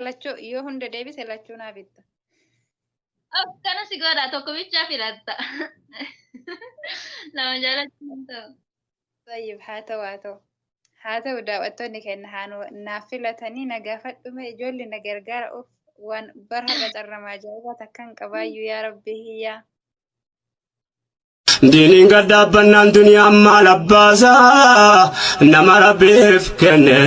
Lachuu yoo hunda deebise lachuu naa bitta. Akkana si godha tokko bichaa filatta. Lama jaalachuu hin ta'u. Tayyib haa ta'u haa ta'u. Haa ta'u daawwattoonni keenya haa nu naaf filatanii na gaafadhume ijoolli na gargaara of waan bara har'a carramaa ajaa'ibaa takkan qabaayyuu yaa rabbi hiyyaa. Diiniin gad dhaabbannaan duniyaan maal abbaasa nama rabbiif kenne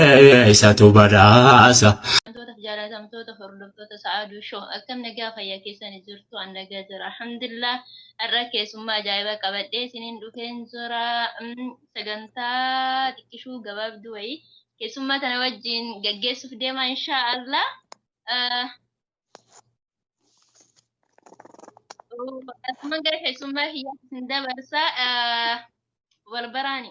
isatu badhaasa. Wantoota jaalatamtoota hordoftoota sa'aaduu shoo akkam nagaa fayyaa keessan jirtu an nagaa jira alhamdulillah Har'a keessummaa ajaa'iba qabadhee isiniin dhufeen jira. Sagantaa xiqqishuu gabaabduu wayii keessummaa tana wajjin gaggeessuuf deema inshaa Allah. Asumaan gara keessummaa kiyyaatti isin dabarsa. Wal baraani.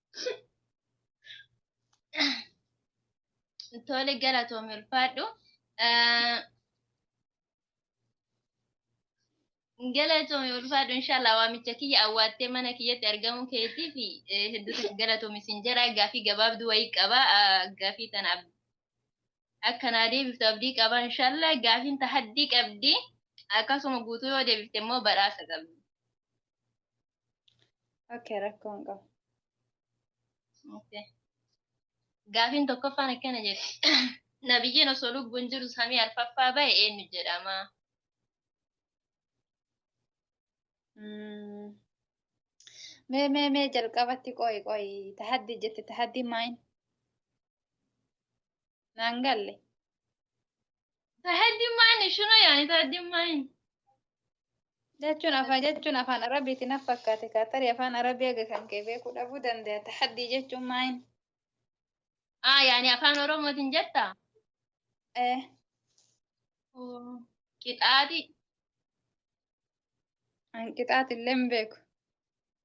Tole galatoomi ulfaadhu. Galatoomi ulfaadhu inshallah waamicha kiyya awwaattee mana kiyyatti argamuu keetiif hedduutu galatoomi sin jedha gaafii gabaabduu wayii qaba gaafii tana akkanaa deebiftu abdii qaba inshallah gaafiin tahaddii qabdi akkasuma guutuu yoo deebifte immoo badhaasa qabdi. Okay, rakkoo hin qabu. Okay. Gaafiin tokkoffaan akkana jedhe. Nabiyyiin osoo lubbuun jiru samii arfaffaa ba'e eenyu jedhama? Mm. Mee mee mee jalqabatti qo'i qo'i tahaddi jette tahaddi maayin? Naan galle. Tahajjud maani shuna yaani tahajjud maani. Jechuun afaan jechuun afaan arabiitiin af fakkaate kaa tarii afaan arabii aga kan kee beekuu dhabuu danda'a tahaddii jechuun maayin. Ah yaani afaan oromootiin jetta. Eh, Oh, Qixaaxi. hanqixaati illee hin beeku.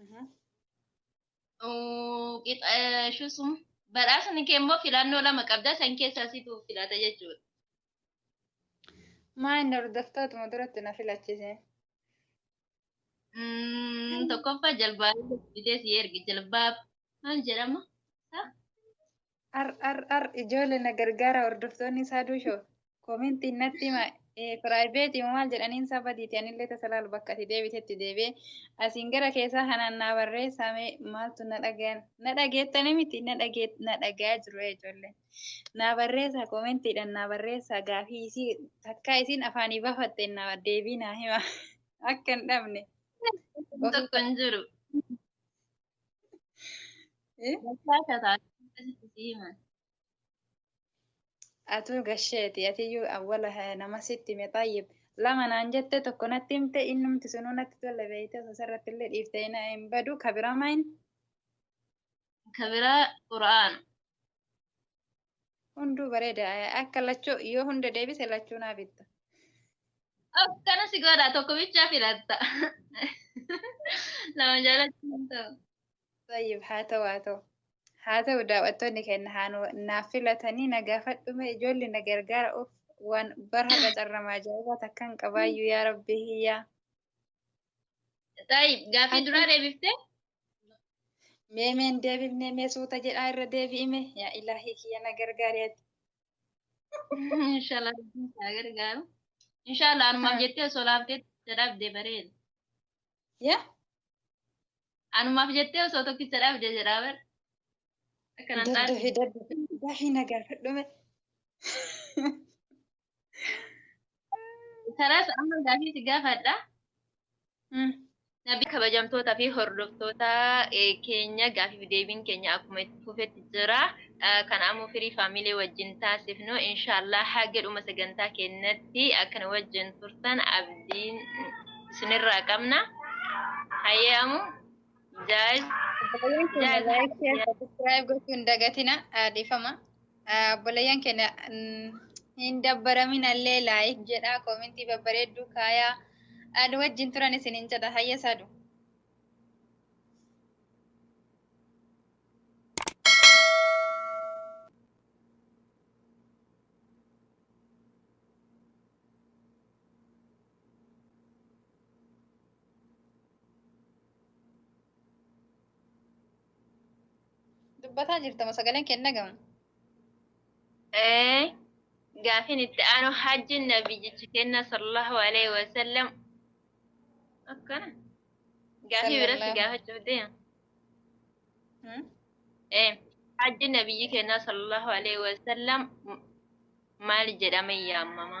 Mhm. Oo, qixa- eh, shusum. Badhaasni kee immoo filannoo lama qabda san keessaa situ filata jechuudha. Maa inni hordoftootuma duratti na filachise. Mm, Tokkoffaa jalbaa fidee si erge jalbaa maal jedhama? Sa? Ar ar ar ijoole na gargaara hordoftoonni isaa duusho kominti natti hima piraayiveetii maal jedhaniin saba diiti anillee tasa laalu bakka ati deebitetti deebi'ee asiin gara keessaa kanaan naa barreessaame maaltu na dhagayan na dhageettanii miti na dhagee na dhagayaa jiru ijoollee naa barreessaa komentiidhaan naa barreessaa gaafii isii takkaa isiin afaanii bafatte naa deebii naa hima akka hin dhabne. Tokko hin jiru. Eh, Bakka akka taate akkasitti si himan. Atuu gasheeti atiyyuu awwala eh, nama sitti hime xaayyib lama naan jette tokko natti himte innumti sunuu natti tolle beeyte osoo sarratti illee dhiifte hin hin badu kabiramaa hin Ka biraa Qur'aana. Hunduu bareeda. Akka lachuu yoo hunda deebise lachuu naa bitta. Akkana si godha tokko bichaa filatta. Lama jaalachuu hin ta'u. Tayyib haa ta'u haa ta'u. Haa ta'u daawwattoonni keenya haa nu- naaf filatanii na gaafadhume ijoolli na gargaara of waan bara har'a carramaa ajaa'ibaa takka hin qabaayyuu yaa rabbi hiyyaa. Tayyib gaaffii duraa deebiftee Mee mee hin deebifne mee suuta jedhaa irra deebi'ime yaa ilaahii kiyya na gargaari ati. Inshallah rabbiin haa gargaaru. Inshallah anumaaf jettee osoo laaftee dadhabde bareeda. Yaa Anumaaf jettee osoo tokkicha dhabde jedhaa bar. Akkanan daddafi daddafi dafii na gaafadhume. Kanas amma gaafii si gaafadha. Hmm. Nabii kabajamtoota fi hordoftoota eh, keenya gaafiif deebiin keenya akkuma itti fufetti jira. Eh, Kan ammoo firii faamilee wajjin taasifnu inshaallah haga dhuma sagantaa keenyatti akkan wajjin turtan abdiin isinirraa qabna. Hayyee amu jaayiz Baay'een keenya Jaayiz. like, share, subscribe gochuun dagatina. Aadefama. Obboleeyyan keenya hin dabbaraminallee laayik jedhaa koomentii babbareedduu kaayaa nu wajjin turan isin hin jedha hayya saadu. Dubbataa jirtama sagaleen kee hin dhagahamu. Eh, gaafin itti aanu hajjin nabiyyichi kenna sallallahu alaihi wasallam akkana gaafii biratti Sallallahu. gaafachuuf deema. Hmm? Eh, hajji nabiyyi kenna sallallahu alaihi wasallam maal jedhame yaamama?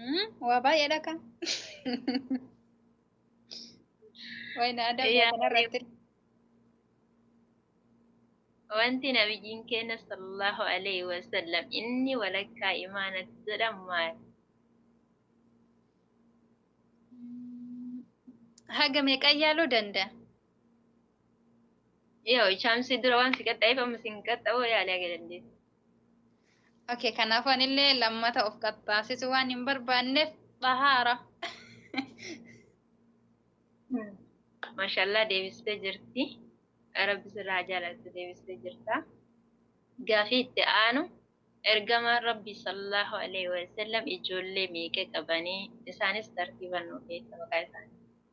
Hmm? Waa baay'eedha kan. Wayna aadaa biyya Yaa kanarratti. Wanti nabiyyiin keenya sallallahu alaihi wasallam inni walakkaa imaanati jedhamu maal? Haga meeqan yaaluu danda'a? Yoo ichaamsi dura waan si qaxxa'eef amma si hin qaxxa'u yaalii haga dandeessu. Okay, kanaafuu anillee lammata of qaxxaasisu waan hin barbaanneef xahaara. Maashaallah deebistee jirti. Rabbi sirraa haa jaalatu deebistee jirta. Gaafii itti aanu ergamaan Rabbi sallallahu alaihi wasallam ijoollee meeqa qabanii isaanis tartiiban nuuf eessa maqaa isaanii.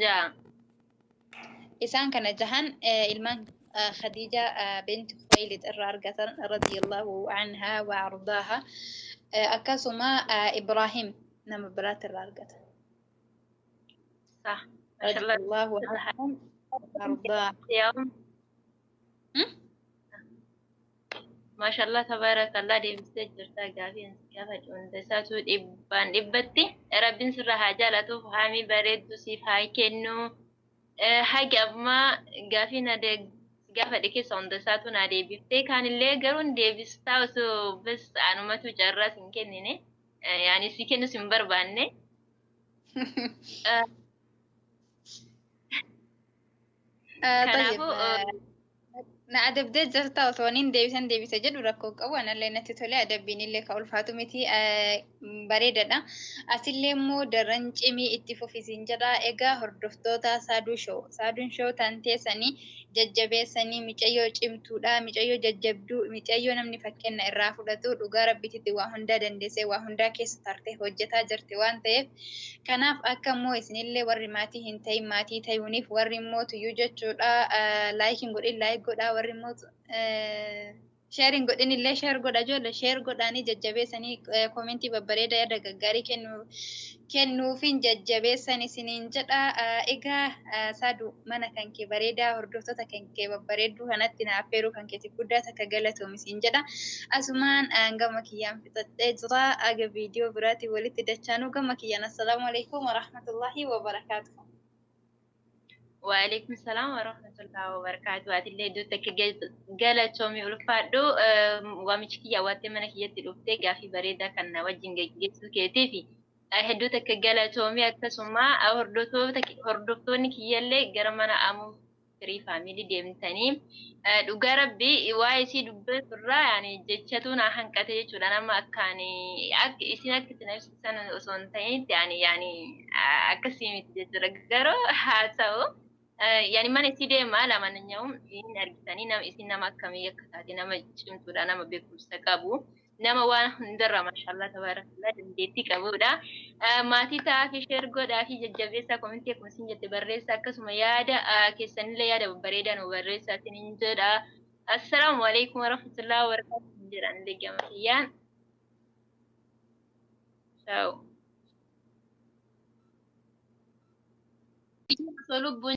ja'a isaan kana jahan ilmaan khadiija binti khuwaylid irraa argatan radiyallahu anha wa ardaaha akkasuma ibraahim nama biraatti irraa argatan radiyallahu anhum ardaaha Maashaallah tabaarakallah deebistee jirtaa gaafii ansi gaafadhe hunda isaatuu dhibbaan dhibbatti rabbiin sirraa haa jaalatuuf haamii bareeddu siif haa kennu hagi ammaa gaafii na gaafadhe keessa hunda isaatuu naa deebiftee kaanillee garuun deebistaa osoo bas anumatu carraa sin kennine yaani si kennu sin barbaanne Ah, Kanaafuu, tayyib, ah, na adabdee jirta otoo waniin deebisan deebisa jedhu rakkoo qabu anallee natti tole adabbiin illee ka ulfaatu miti ah, mm, bareedadha asillee immoo daran cimii itti fufisiin jedha egaa hordoftoota saaduu shoo saaduun shoo tan teessanii jajjabeessanii micayyoo cimtuudha micayyoo jajjabduu micayyoo namni fakkenna irraa fudhatu dhugaa rabbititti waa hundaa dandeessee waa hundaa keessa tartee hojjetaa jirti waan ta'eef Kanaaf akka immoo isinillee warri maatii hin ta'in maatii tayuuniif warri immoo tuyyuu jechuudha laayik hin godhin laayik godhaa warri immoo sheer hin godhin illee sheer godha ijoollee sheer godhaanii jajjabeessanii koomentii babbareeda yaada gaggaarii kennu kennuufiin jajjabeessan isiniin jedha egaa saadu mana kan kee bareedaa hordoftoota kan kee babbareedduu kanatti naaf heeruu kan keetiif guddaa takka galatoomi siin jedha asumaan gama kiyyaan fixadhee jira aga viidiyoo biraatiin walitti dachaanuu gama kiyyaan assalaamu alaikum warahmatullaahi wabarakaatuhu. Waalaikum salaam warahmatullahi wabarakatuh. Atillee iddoo takka galatoomii ulfaadhu waamichi kiyya awwaattee mana kiyyatti dhuftee gaafii bareedaa kan na wajjin geggeessuu keetiif hedduu takka galatoomii akkasuma hordoftoonni kiyyallee gara mana amuu firii family demtani dhuga rabbi waa isii dubbetu irraa yani jechatu naa hanqate jechudha nama akkaani ak isin akka itti nabsisan osoo hin ta'initti ani yani akkasii miti jechudha garuu haa ta'u yani mana isii deema lamananya'u hin argitanii nama isin nama akkamii akka taate nama cimtudha nama beekumsa qabu nama waan hundarraa mashallah tabarakallah dandeettii qabudha. Maatii ta'aafi sheer godhaafi jajjabeessaa komentii akkuma isin jette barreessa akkasuma yaada keessanillee yaada babbareedaa nu barreessaa isinin jedha. Assalaamu alaikum warahmatullahi wabarakatuh jedha anillee gama kiyyaan. Ciao. Lubbuun